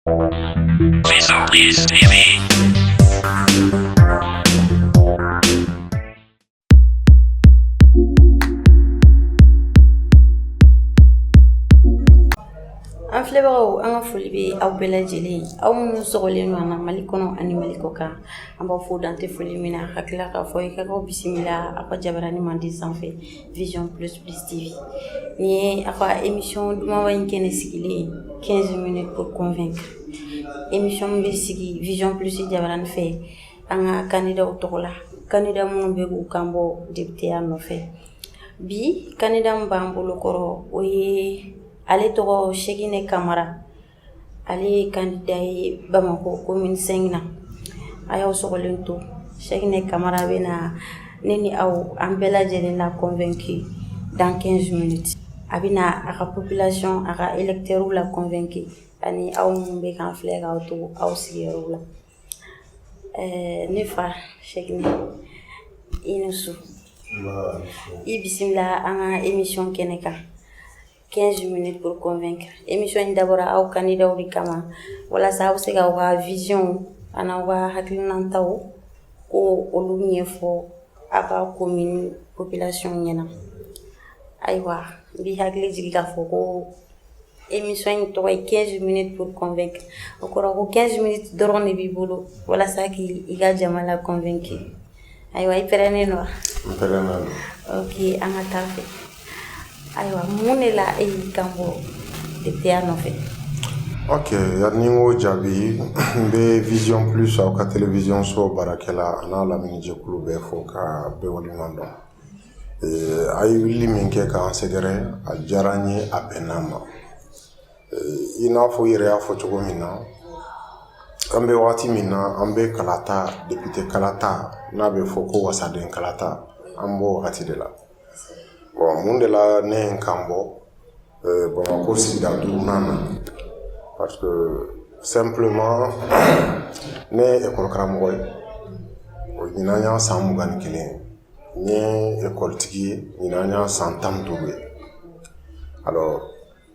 An filɛbagaw an ka foli bɛ aw bɛɛ lajɛlen ye aw minnu sɔgɔlen don an na Mali kɔnɔ ani Mali kɔkan an b'aw fo dan tɛ foli min na ka tila k'a fɔ aw ye k'aw bisimila aw ka jabarani mandi sanfɛ Vision plus TV nin ye aw ka émission dumanba in kɛnɛ sigilen ye 15 minutes pour convaincre émission min bɛ sigi Vision plus jabarani fɛ an ka candidat tɔgɔ la candidat minnu bɛ k'u kan bɔ député-ya nɔfɛ bi candidat min b'an bolokɔrɔ o ye ale tɔgɔ Cheickné Kamara ale ye kanda ye bamakɔ ko minisɛn na a y'aw sogolen to sɛ ne kamara bɛ na ne ni aw an bɛɛ lajɛlen na kɔn2ki dankɛ z a bɛ a ka ppilasɔn a ka etrw la kɔn2ki ani aw minnu bɛ kan filɛ k'aw to aw sigiyɔrɔ la ɛɛ ne fa sɛ i ni su i bisimila an ka emi nisɔn kɛnɛ kan 15 minutes pour convaincre émission in dabɔra aw kandidaw de kama walasa aw bɛ se ka aw ka vision an'aw ka hakilinantaw ko olu ɲɛfɔ aw ka commune population ɲɛna ayiwa n b'i hakili jigi k'a fɔ ko émission in tɔgɔ ye 15 minutes pour convaincre o kɔrɔ ko 15 minutes dɔrɔn de b'i bolo walasa k'i ka jama la convaincre Ayiwa i pɛrɛnnen don wa? N pɛrɛnnen don. Ok an ka taa fɛ. Ayiwa mun de la e y'i kan bɔ depiteya nɔfɛ? Ok yani n k'o jaabi, n bɛ vision plus aw ka television so baarakɛla an'a lamini jɛkulu bɛɛ fo k'a bɛɛ waleɲuman dɔn. Ee a ye wulili min kɛ k'an sɛgɛrɛ a diyara an ye a bɛnna an ma. i n'a fɔ i yɛrɛ y'a fɔ cogo min na an bɛ waati min na an bɛ kalata depite kalata n'a bɛ fɔ ko wasaden kalata an b'o wagati de la bon mun de la ne ye n kan bɔ bamakɔ sigida duurunan na parce que simplement ne ye ekɔli karamɔgɔ ye o ɲinan y'a san mugan ni kelen ye n ye ekɔlitigi ye ɲinan y'a san tan ni duuru ye alors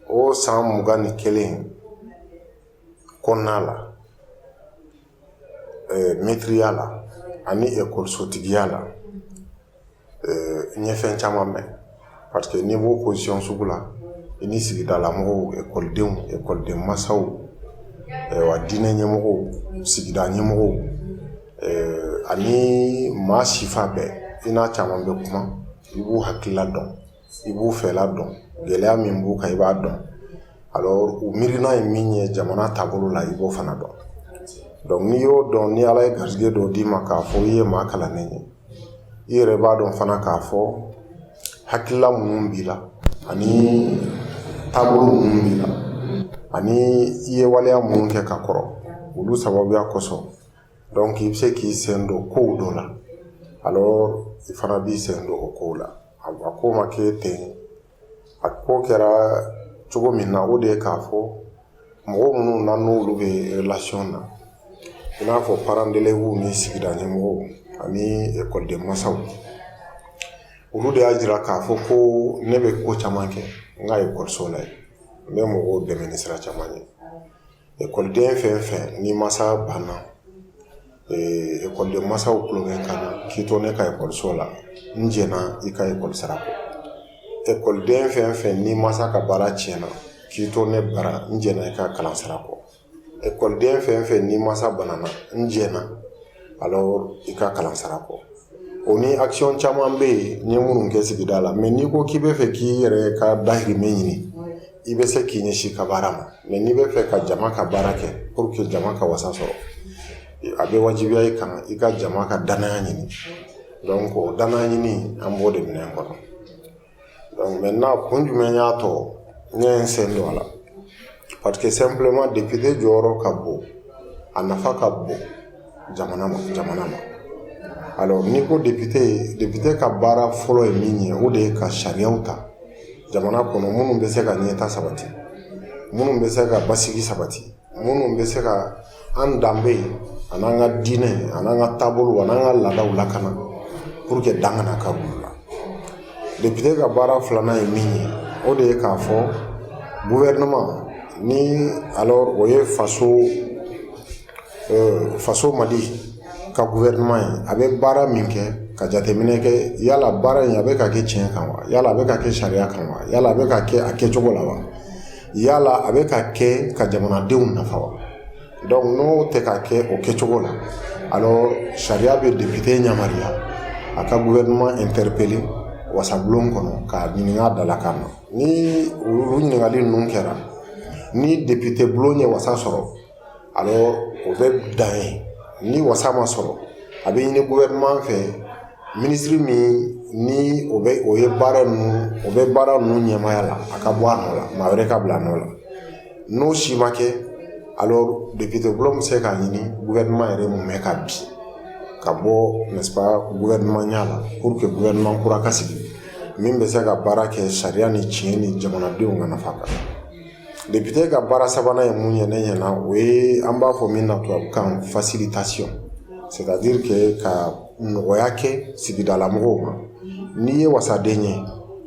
o san mugan ni kelen kɔnɔna la mɛtiriya la ani ekɔlisotigiya la n ye fɛn caman mɛn parce que n'i b'o position sugu la i ni sigidala mɔgɔw ekɔlidenw ekɔliden masaw wa diinɛ ɲɛmɔgɔw sigida ɲɛmɔgɔw ani maa sifa bɛɛ i n'a caman bɛ kuma i b'u hakilila dɔn i b'u fɛla dɔn gɛlɛya min b'u kan i b'a dɔn alors u miirina ye min ye jamana taabolo la i b'o fana dɔn donc n'i y'o dɔn ni ala ye garisɛgɛ dɔ d'i ma k'a fɔ i ye maa kalannen ye i yɛrɛ b'a dɔn fana k'a fɔ hakilila minnu b'i la ani taabolo minnu b'i la ani i ye waleya minnu kɛ ka kɔrɔ olu sababuya kosɔn donc i bɛ se k'i sen don kow dɔ la alors i fana b'i sen don o kow la a ko ma kɛ ten a ko kɛra cogo min na o de ye k'a fɔ mɔgɔ minnu ne n'olu bɛ relation na i n'a fɔ parents d'élèves ni sigida ɲɛmɔgɔw ani ekɔliden masaw olu de y'a jira k'a fɔ ko ne bɛ ko caman kɛ n ka ekɔliso la yen n bɛ mɔgɔw dɛmɛ ni sira caman ye Ekɔliden fɛn o fɛn n'i mansa banna ekɔliden mansaw tulo bɛ n kan na k'i to ne ka ekɔliso la n jɛna i ka ekɔli sara kɔ ekɔliden fɛn o fɛn n'i mansa ka baara tiɲɛna k'i to ne bara n jɛna i ka kalan sara kɔ ekɔliden fɛn o fɛn n'i mansa banana n jɛna i ka kalan sara kɔ o ni action caman bɛ yen n ye minnu kɛ sigida la mais n'i ko k'i bɛ fɛ k'i yɛrɛ ka dahirimɛ ɲini i bɛ se k'i ɲɛsin i ka baara ma mais n'i bɛ fɛ ka jama ka baara kɛ pour que jama ka wasa sɔrɔ a bɛ wajibiya i kan i ka jama ka danaya ɲini donc o danaya ɲini an b'o de minɛn kɔnɔ donc maintenant kun jumɛn y'a to ne ye n sen don a la parce que simplement député jɔyɔrɔ ka bon a nafa ka bon jamana ma jamana ma alors n'i ko député député ka baara fɔlɔ ye min ye o de ye ka sariyaw ta jamana kɔnɔ minnu bɛ se ka ɲɛtaa sabati minnu bɛ se ka basigi sabati minnu bɛ se ka an danbe a n'an ka diinɛ a n'an ka taabolo a n'an ka laadaw lakana pour que dan kana kari olu la député ka baara filanan ye min ye o de ye k'a fɔ gouvernement ni alors o ye faso faso mali ka gouvernement ye a bɛ baara min kɛ ka jateminɛ kɛ yala baara in a bɛ ka kɛ tiɲɛ kan wa yala a bɛ ka kɛ sariya kan wa yala a bɛ ka kɛ a kɛcogo la wa yala a bɛ ka kɛ ka jamanadenw nafa wa n'o tɛ ka kɛ o kɛcogo la sariya bɛ député yamaruya a ka gouvernement interpeller wasabulon kɔnɔ k'a ɲininka a dalakan na ni olu ɲininkali ninnu kɛra ni député bulon ye wasa sɔrɔ alors o bɛ dan yen ni wasa ma sɔrɔ a bɛ ɲini gouvernement fɛ ministre min ni o bɛ o ye baara o bɛ baara ninnu ɲɛmaya la a ka bɔ a nɔ la maa wɛrɛ ka bila a nɔ la n'o si ma kɛ alors député bulon bɛ se k'a ɲini gouvernement yɛrɛ mumɛ ka bin ka bɔ gouvernementya la pour que gouvernement kura ka sigi min bɛ se ka baara kɛ sariya ni tiɲɛ ni jamanadenw ka nafa kan Depite ka baara sabanan ye mun ye ne ɲɛna o ye an b'a fɔ min na tubabukan facilitation c'est à dire que ka nɔgɔya kɛ sigidala mɔgɔw ma n'i ye wasaden ye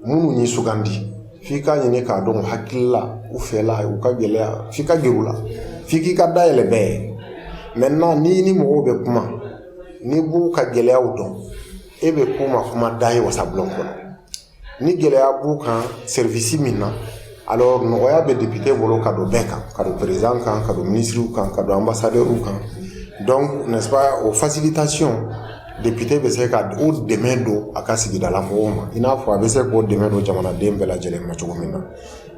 minnu y'i sugandi f'i k'a ɲini k'a dɔn hakilila u fɛla u ka gɛlɛya f'i ka gɛrɛ u la f'i k'i ka da yɛlɛ bɛɛ ye maintenant n'i ni mɔgɔw bɛ kuma n'i b'u ka gɛlɛyaw dɔn e bɛ k'u ma kumada ye wasabulon kɔnɔ ni gɛlɛya b'u kan service min na alors nɔgɔya bɛ depite bolo ka don bɛɛ kan ka don président kan ka don minisiriw kan ka don anbasadɛriw kan donc n'est ce pas o facilitation depite bɛ se ka o dɛmɛ don a ka sigidala mɔgɔw ma i n'a fɔ a bɛ se k'o dɛmɛ don jamanaden bɛɛ lajɛlen ma cogo min na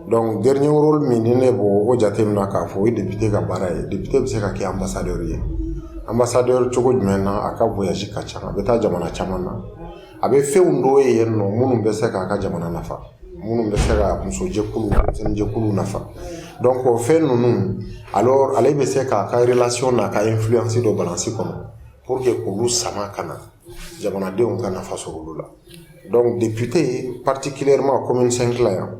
donc dernier rôle min ni ne b'o o jateminɛ k'a fɔ o ye depite ka baara ye depite bɛ se ka kɛ anbasadɛri ye anbasadɛri cogo jumɛn na a ka voyage ka ca a bɛ taa jamana caman na a bɛ fɛnw dɔw ye yen nɔ minnu bɛ se k'a ka jamana nafa minnu bɛ se ka musojɛkulu denmisɛnninjɛkulu nafa donc o fɛn ninnu alors ale bɛ se k'a ka relation n'a ka influence don balance kɔnɔ pour que k'olu sama ka na jamanadenw ka nafa sɔrɔ olu la donc député particulièrement commune 5 la yan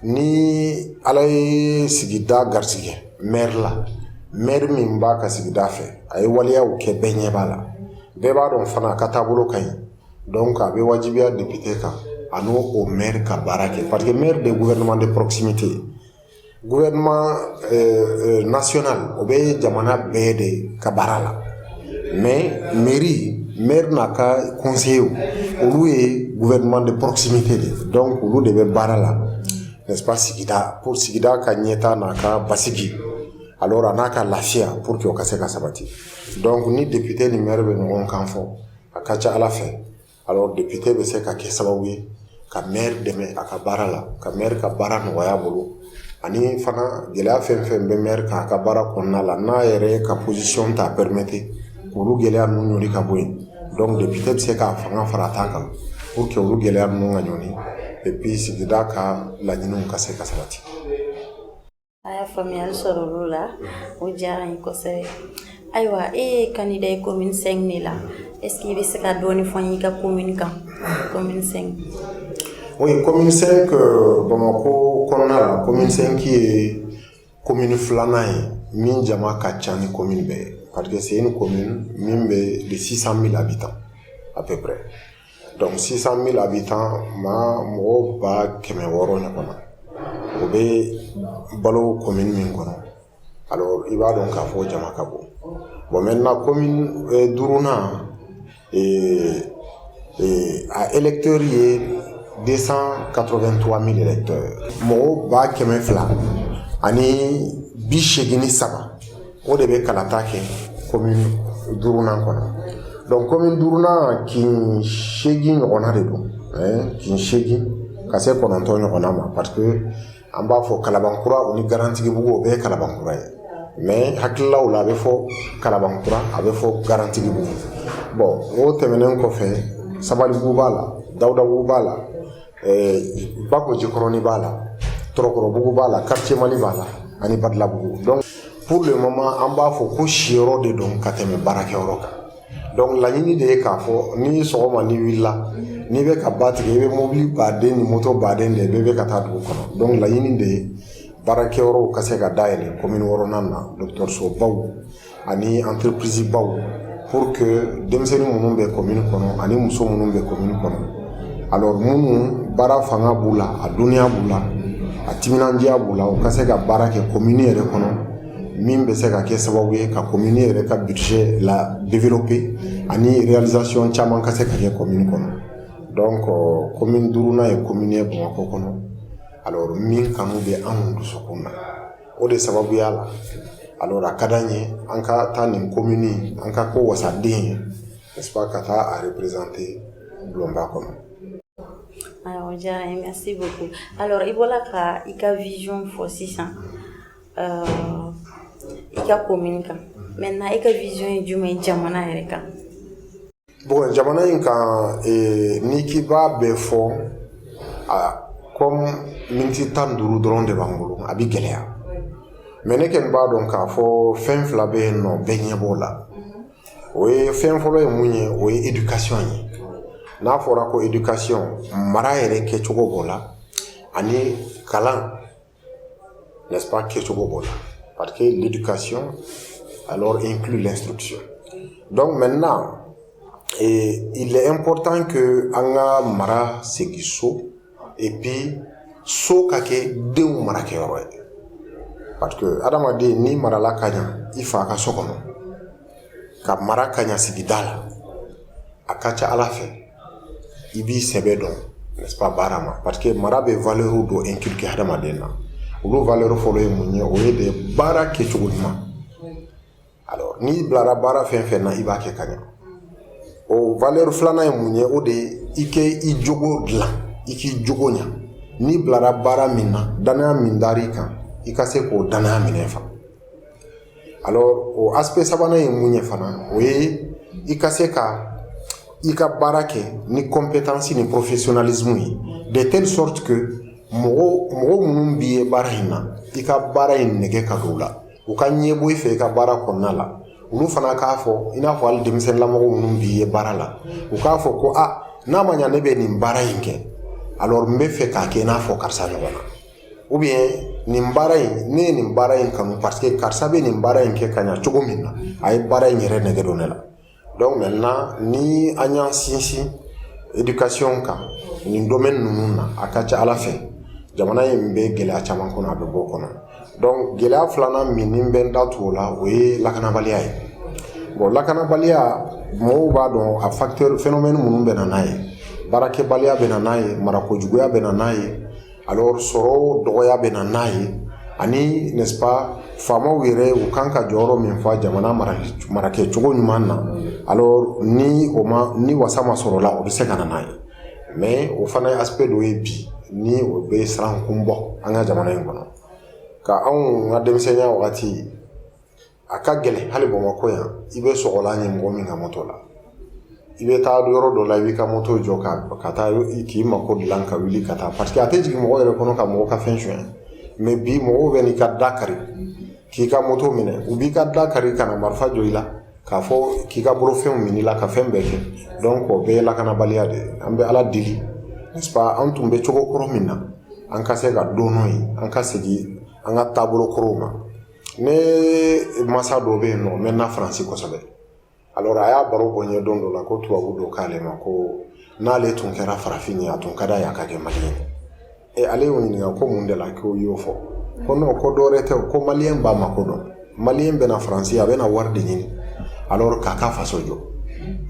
ni ala ye sigida garisɛgɛ maire la maire min b'a ka sigida fɛ a ye waleyaw kɛ bɛɛ ɲɛ b'a la bɛɛ b'a dɔn fana a ka taabolo ka ɲi donc a bɛ wajibiya député kan a n'o maire ka baara kɛ parce que maire de gouvernement de proximité ye gouvernement national o bɛ jamana bɛɛ de ka baara la mɛri m n'a ka kɔse olu ye vmani pkisite de dɔn olu de bɛ baara la ka sigida ko sigida ka ɲɛ taa n'a ka basigi a n'a ka lafiya po que ka se ka sabati dɔnku ni debite ni yɛrɛ bɛ ɲɔgɔn kan fɔ a ka ca ala fɛ Alors député bɛ se ka kɛ sababu ye ka maire dɛmɛ a ka baara la ka maire ka baara nɔgɔya a bolo ani fana gɛlɛya fɛn fɛn bɛ maire kan a ka baara kɔnɔna la n'a yɛrɛ ka position t'a permettre k'olu gɛlɛya ninnu ɲɔni ka bɔ yen donc député bɛ se k'a fanga fara a ta kan pour que olu gɛlɛya ninnu ka ɲɔni et puis sigida ka laɲiniw ka se ka sabati A y'a faamuyali sɔrɔ olu la o diyara ye kosɛbɛ ayiwa e ye kanda ye kominisɛn de la eseke i bɛ se ka dɔɔnin fɔ y'i ka ko mini kan ko o ye kɔmi bamakɔ kɔnɔna la kɔmisɛnki ye komi filanan ye min jama ka ca ni ko bɛɛ ye pa que se ni ko min bɛ sisan bɛ la bi tan a bɛ Donc 600 000 habitants maa mɔgɔ ba kɛmɛ wɔɔrɔ ɲɔgɔn na o bɛ balo commune min kɔnɔ alors i b'a dɔn k'a fɔ jama ka bon bon maintenant commune euh, duurunan ee ee a électeurs ye 283 000 électeurs mɔgɔ ba kɛmɛ fila ani bi seegin ni saba o de bɛ kalata kɛ commune duurunan kɔnɔ donc commune duurunan kin seegin ɲɔgɔnna de don kin seegin ka se kɔnɔntɔn ɲɔgɔnna ma parce que an b'a fɔ kalabankura o ni garantigibugu o bɛɛ ye kalabankura ye mais hakililaw la a bɛ fɔ kalabankura a bɛ fɔ garantigibugu bon o tɛmɛnen kɔfɛ sabalibugu b'a la dawudabugu b'a la bakojikɔrɔnin b'a la tɔrɔkɔrɔbugu b'a la quartier mali b'a la ani badalabugu donc pour le moment an b'a fɔ ko siyɔrɔ de don ka tɛmɛ baarakɛyɔrɔ kan donc laɲini de ye k'a fɔ ni sɔgɔma ni wulila n'i bɛ ka ba tigɛ i bɛ mobili baden ni moto baden de bɛɛ bɛ ka taa dugu kɔnɔ donc laɲini de ye baarakɛyɔrɔw ka se ka dayɛlɛ commune wɔɔrɔnan na dɔgɔtɔrɔsobaw ani entreprise baw pour que denmisɛnnin minnu bɛ commune kɔnɔ ani muso minnu bɛ commune kɔnɔ alors minnu baara fanga b'u la a dɔnniya b'u la a timinandiya b'u la u ka se ka baara kɛ commune yɛrɛ kɔnɔ min bɛ se ka kɛ sababu ye ka commune yɛrɛ ka budget la développer ani réalisation caman ka se ka kɛ commune kɔnɔ donc commune duurunan ye commune ye bamakɔ kɔnɔ alors min kanu bɛ anw dusukun na o de sababuya la alors a ka d'an ye an ka taa nin commune an ka k'o wasaden ye n'est-ce pas ka taa a représenter bulonba kɔnɔ ayiwa o diyara n ye merci beaucoup alors i bɔla ka i ka vision fɔ sisan euh, i ka commune kan maintenant i ka vision ye jumɛn ye jamana yɛrɛ kan Bon jamana in kan n'i k'i b'a bɛɛ fɔ comme miniti tan ni duuru dɔrɔn de b'an bolo a bɛ gɛlɛya mais ne kɔni b'a dɔn k'a fɔ fɛn fila bɛ yen n'o bɛɛ ɲɛ b'o la o ye fɛn fɔlɔ ye mun ye o ye éducation ye n'a fɔra ko éducation mara yɛrɛ kɛcogo b'o la ani kalan n'est-ce pas kɛcogo b'o la parce que l'éducation alors inclut l'instruction donc maintenant il est important que an ka mara segin so et puis so ka kɛ denw marakɛyɔrɔ ye parce que adamaden n'i marala ka ɲa i fa ka so kɔnɔ ka mara ka ɲa sigida la a ka ca ala fɛ i b'i sɛbɛ don baara ma parce que mara bɛ valeur dɔ inculquer hadamaden na olu valeur fɔlɔ ye mun ye o ye de baara kɛ cogo ɲuman n'i bilara baara fɛn fɛn na i b'a kɛ ka ɲɛ o valeur filanan ye mun ye o de ye i k'i jogo dilan i k'i jogo ɲɛ n'i bilara baara min na danaya min dara i kan i ka se k'o danaya minɛn fa o aspect sabanan ye mun ye fana o ye i ka se ka i ka baara kɛ ni compétence ni professionnalisme ye de telle sorte que mɔgɔ minnu b'i ye baara in na i ka baara in nege ka don u la u ka ɲɛ bɔ i fɛ i ka baara kɔnɔna la olu fana k'a fɔ i n'a fɔ hali denmisɛnninlamɔgɔ minnu b'i ye baara la u k'a fɔ ko aa n'a ma ɲɛ ne bɛ nin baara in kɛ alors n bɛ fɛ k'a kɛ i n'a fɔ karisa ɲɔgɔn na ou bien nin baara in ne ye nin baara in kanu parce que karisa bɛ nin baara in kɛ ka ɲa cogo min na a ye baara in yɛrɛ nege don ne la donc maintenant ni an y'an sinsin éducation kan nin domaine ninnu na a ka ca ala fɛ jamana in bɛ gɛlɛya caman kɔnɔ a bɛ bɔ o kɔnɔ donc gɛlɛya filanan min ne bɛ n da tu o la o ye lakanabaliya ye bon lakanabaliya mɔgɔw b'a dɔn a facteur phénomène minnu bɛ na n'a ye baarakɛbaliya bɛ na n'a ye marako juguya bɛ na n'a ye alors sɔrɔ dɔgɔya bɛ na n'a ye ani n'est-ce pas faamaw yɛrɛ u kan ka jɔyɔrɔ min fa jamana marakɛ cogo ɲuman na alors ni wasa ma sɔrɔ o la o bɛ se ka na n'a ye mais o fana ye aspect dɔ ye bi ni o bɛ siran kun bɔ an ka jamana in kɔnɔ ka anw ka denmisɛnninya wagati a ka gɛlɛn hali bamakɔ yan i bɛ sɔgɔlan ye mɔgɔ min ka moto la i bɛ taa yɔrɔ dɔ la i b'i ka moto jɔ ka ka taa k'i mako dilan ka wuli ka taa parce que a tɛ jigin mɔgɔ yɛrɛ kɔnɔ ka mɔgɔ ka fɛn suɲɛ mais bi mɔgɔw bɛ n'i ka da kari k'i ka moto minɛ u b'i ka da kari ka na marifa jɔ i la k'a fɔ k'i ka bolofɛnw minɛ i la ka fɛn bɛɛ kɛ donc o bɛɛ ye lakanabaliya de ye an bɛ ala deli an tun bɛ cogo kɔrɔ min na an ka se ka don n'o ye an ka segin an ka taabolo kɔrɔw ma Ne mansa dɔ bɛ yen n'o bɛ na faransi kosɛbɛ a y'a baro bɔ n ye don dɔ la ko tubabu dɔ k'ale ma ko n'ale tun kɛra farafin ye a tun ka d'a ye a ka kɛ malien ye ale y'o ɲininka ko mun de la k'o y'o fɔ ko non ko dɔwɛrɛ tɛ ko malien b'a mako dɔn malien bɛna na faransi a bɛna na wari de ɲini a k'a ka faso jɔ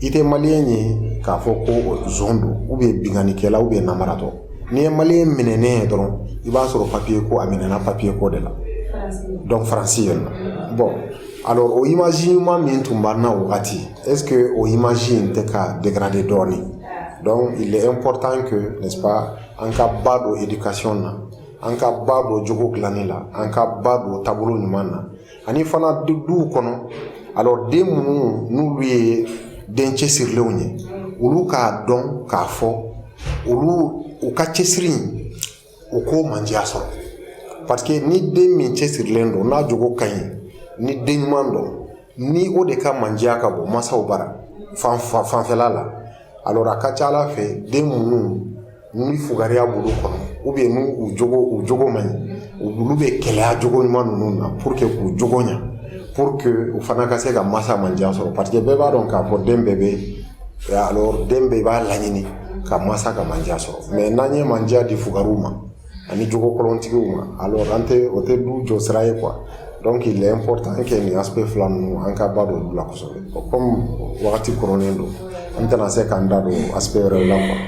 i tɛ malien ye k'a fɔ ko son don ou bien binkanikɛla ou bien namaratɔ n'i ye maliyɛn minɛnen ye dɔrɔn i b'a sɔrɔ papier ko a minɛna papier ko de la donc faransi yen nɔ bon alors o image ɲuman min tun b'an na wagati est-ce que o image in tɛ ka dégrader dɔɔnin donc il est important que n'est-ce pas an ka ba don éducation na an ka ba don jogo dilanni la an ka ba don taabolo ɲuman na ani fana duw kɔnɔ alors den minnu n'olu ye den cɛsirilenw ye olu k'a dɔn k'a fɔ olu u ka cɛsiri in u k'o mandiya sɔrɔ parce que ni den min cɛsirilen don n'a jogo ka ɲi ni den ɲuman don ni o de ka mandiya ka bɔ masaw bara fanfɛla la alors a ka ca a la fɛ den minnu Ni fugariya b'olu kɔnɔ ou bien n'u jogo man ɲi olu bɛ keleya jogo ɲuman ninnu na pour que k'u jogo ɲɛ pour que u fana ka se ka masa mandiya sɔrɔ parce que bɛɛ b'a dɔn k'a fɔ den bɛɛ bɛ alors den bɛɛ b'a laɲini ka masa ka mandiya sɔrɔ mais n'an ye mandiya di fugariw ma ani jogo kolontigiw ma alors an tɛ o tɛ du jɔ sira ye quoi donc il est important que nin aspect fila ninnu an ka ba don u la kosɛbɛ kɔmi wagati koronnen don an tɛna se k'an da don a yɛrɛ la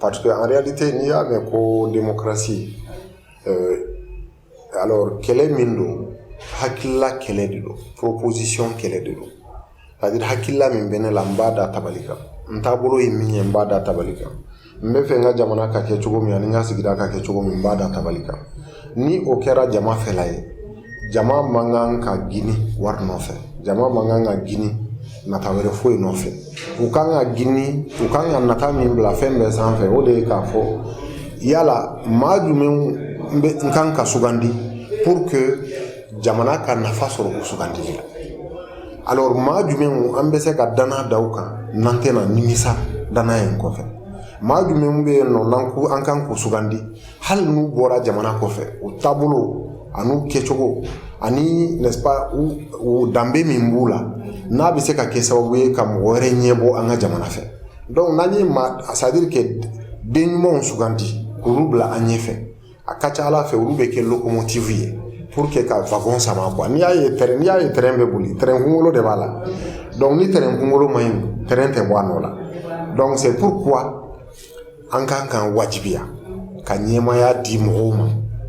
Parce que en réalité n'i y'a mɛn ko démocratie euh, alors kɛlɛ min don hakilila kɛlɛ de don proposition kɛlɛ de don c'est à dire hakilila min bɛ ne la n b'a da tabali kan n taabolo ye min ye n b'a da tabali kan n bɛ fɛ n ka jamana ka kɛ cogo min ani n ka sigida ka kɛ cogo min n b'a da tabali kan ni o kɛra jama fɛla ye jama man kan ka gini wari nɔfɛ jama man kan ka gini nata wɛrɛ foyi nɔfɛ u kan ka gini u kan ka nata min bila fɛn bɛɛ sanfɛ o de ye k'a fɔ yala maa jumɛn n kan ka sugandi pour que jamana ka nafa sɔrɔ o sugandili la alors maa jumɛn an bɛ se ka danna da u kan n'an tɛna nimisa danaya in kɔfɛ maa jumɛn bɛ yen nɔ n'an kan k'u sugandi hali n'u bɔra jamana kɔfɛ u taabolo ani u kɛcogo ani u danbe min b'u la n'a bɛ se ka kɛ sababu ye ka mɔgɔ wɛrɛ ɲɛbɔ an ka jamana fɛ donc n'an ye maa c'est-à-dire que den ɲumanw sugandi k'olu bila an ɲɛ fɛ a ka ca a la fɛ olu bɛ kɛ lokomotifu ye pour que ka wagon sama quoi n'i y'a ye tɛrɛn n'i y'a ye tɛrɛn bɛ boli tɛrɛn kunkolo de b'a la donc ni tɛrɛn kunkolo man ɲi tɛrɛn tɛ bɔ a nɔ la donc c'est pourquoi an kan k'an wajibiya ka ɲɛmaya di mɔgɔw ma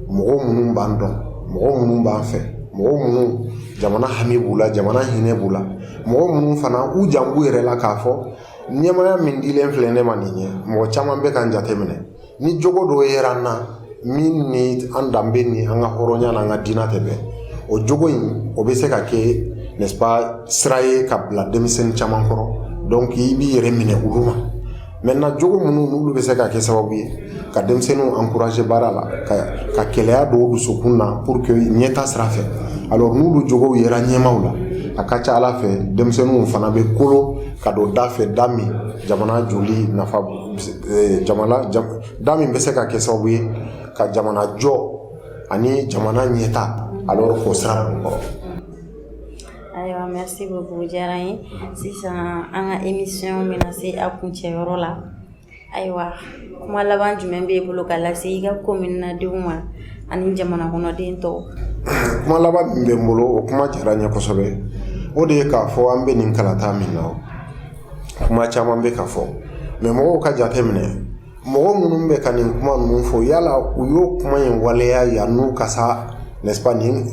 mɔgɔ minnu b'an dɔn mɔgɔ minnu b'an fɛ mɔgɔ minnu jamana hami b'u la jamana hinɛ b'u la mɔgɔ minnu fana u jan b'u yɛrɛ la k'a fɔ ɲɛmaya min dilen filɛ ne ma nin ye mɔgɔ caman bɛ ka n jateminɛ ni jogo dɔ yera n na min ni an danbe ni an ka hɔrɔnya n'an ka diinɛ tɛ bɛn o jogo in o bɛ se ka kɛ n'est-ce pas sira ye ka bila denmisɛnnin caman kɔrɔ donc i b'i yɛrɛ minɛ olu ma maintenant jogo minnu n'olu bɛ se ka kɛ sababu ye ka denmisɛnninw encourager baara la ka kɛlɛya don u dusukun na pour que ɲɛta sira fɛ alors n'olu jogow yera ɲɛmaw la a ka ca ala fɛ denmisɛnninw fana bɛ kolo ka don da fɛ da min jamana jɔli nafa da min bɛ se ka kɛ sababu ye ka jamana jɔ ani jamana ɲɛta alors k'o sira kɔrɔ ayiwa merci beaucoup diyara n ye sisan an ka émission bɛna se a kuncɛyɔrɔ la ayiwa kuma laban jumɛn b'e bolo ka lase i ka commune denw ma ani jamana kɔnɔden tɔw kuma laban min bɛ n bolo o kuma diyara n ye kosɛbɛ o de ye k'a fɔ an bɛ nin kalata min na kuma caman bɛ ka fɔ mais mɔgɔw ka jate minɛ mɔgɔ minnu bɛ ka nin kuma ninnu fɔ yala u y'o kuma in waleya yann'u ka sa n'est-ce pas nin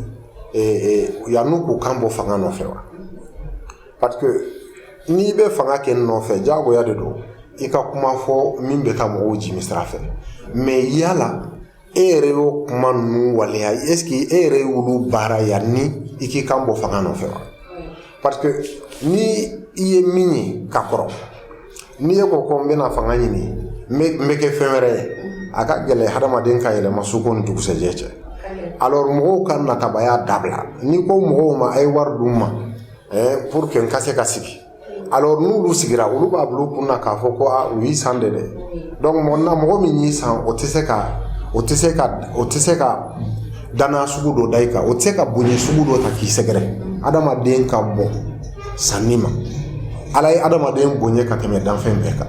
yann'u k'u kan bɔ fanga nɔfɛ wa parce que n'i bɛ fanga kɛ nɔfɛ jagoya de don i ka kuma fɔ min bɛ taa mɔgɔw jimi sira fɛ mais yala e yɛrɛ y'o kuma ninnu waleya est-ce que e yɛrɛ y'olu baara yanni i k'i kan bɔ fanga nɔfɛ wa parce que ni i ye min ye ka kɔrɔ n'i ye ko ko n bɛna fanga ɲini n bɛ n bɛ kɛ fɛn wɛrɛ ye a ka gɛlɛn hadamaden ka yɛlɛma su ko ni dugusɛjɛ cɛ alors mɔgɔw ka natabaya dabila n'i ko mɔgɔw ma a ye wari d'u ma eh, pour que n ka se ka sigi alors n'olu sigira olu b'a bila u kun na k'a fɔ ko a u y'i san de dɛ donc mɔgɔ na mɔgɔ min y'i san o tɛ se ka o tɛ se ka o tɛ se ka danaya sugu dɔ da i kan o tɛ se ka bonya sugu dɔ ta k'i sɛgɛrɛ adamaden ka bon sanni ma ala ye adamaden bonya ka tɛmɛ danfɛn bɛɛ kan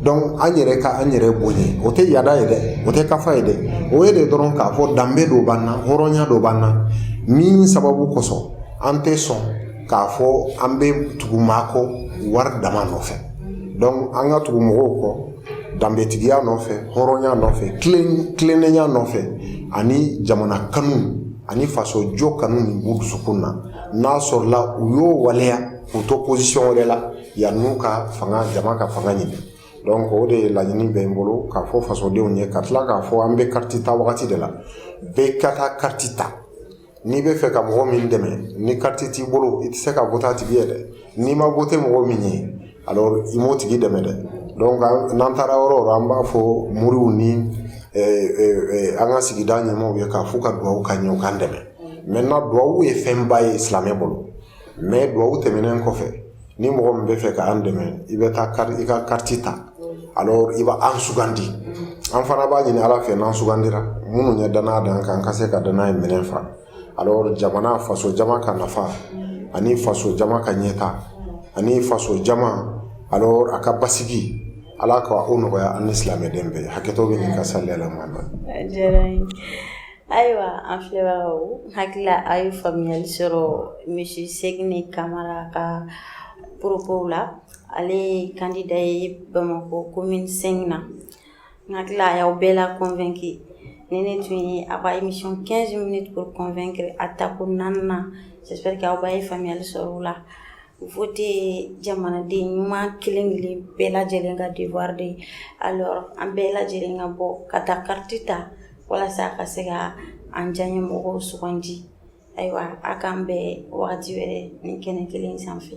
donc an yɛrɛ ka an yɛrɛ bonya o tɛ yada ye dɛ o tɛ kafa ye dɛ o ye de dɔrɔn k'a fɔ danbe dɔ b'an na hɔrɔnya dɔ b'an na min sababu kosɔn an tɛ sɔn k'a fɔ an bɛ tugu maa kɔ wari dama nɔfɛ donc an ka tugu mɔgɔw kɔ danbetigiya nɔfɛ hɔrɔnya nɔfɛ tilennenya nɔfɛ ani jamana kanu ani fasojɔ kanu min b'u dusukun na n'a sɔrɔla u y'o waleya k'u to position wɛrɛ la yann'u ka fanga jama ka fanga ɲini donc o de ye laɲini bɛ n bolo k'a fɔ fasodenw ye ka tila k'a fɔ an bɛ carte ta wagati de la bɛɛ ka taa carte ta n'i bɛ fɛ ka mɔgɔ min dɛmɛ ni carte t'i bolo i tɛ se ka voter a tigi ye dɛ n'i ma voter mɔgɔ min ye alors i m'o tigi dɛmɛ dɛ donc n'an taara yɔrɔ o yɔrɔ an b'a fɔ moriw ni an ka sigida ɲɛmaw ye k'a fɔ u ka dugawu k'an ye u k'an dɛmɛ maintenant dugawu ye fɛnba ye silamɛ bolo mais dubabu tɛmɛnen kɔfɛ ni mɔgɔ min bɛ fɛ k'an dɛmɛ i bɛ taa i ka carte ta alors i b'an sugandi an fana b'a ɲini ala fɛ n'an sugandira minnu ye danaya da an kan ka se ka danaya in minɛn fa alors jamana faso jama ka nafa ani faso jama ka ɲɛtaa ani faso jama alors a ka basigi ala ka o nɔgɔya an ni silamɛden bɛɛ hakɛto bɛ nin ka salila ma Ayiwa an filɛbagaw n hakili la a' ye faamuyali sɔrɔ monsieur Sɛgini Kamara ka propos la ale ye candidat ye Bamakɔ commune V na n hakili la a y'aw bɛɛ la convaincu nin de tun ye a ka émission 15 minutes pour convaincre a tako 4 nan j'espère que aw bɛɛ ye faamuyali sɔrɔ o la Voter jamanaden ɲuman kelenkelen bɛɛ lajɛlen ka devoir de alors an bɛɛ lajɛlen ka bɔ ka taa carte ta walasa ka se ka an diyanyemɔgɔw sugandi ayiwa a k'an bɛn wagati wɛrɛ nin kɛnɛ kelen sanfɛ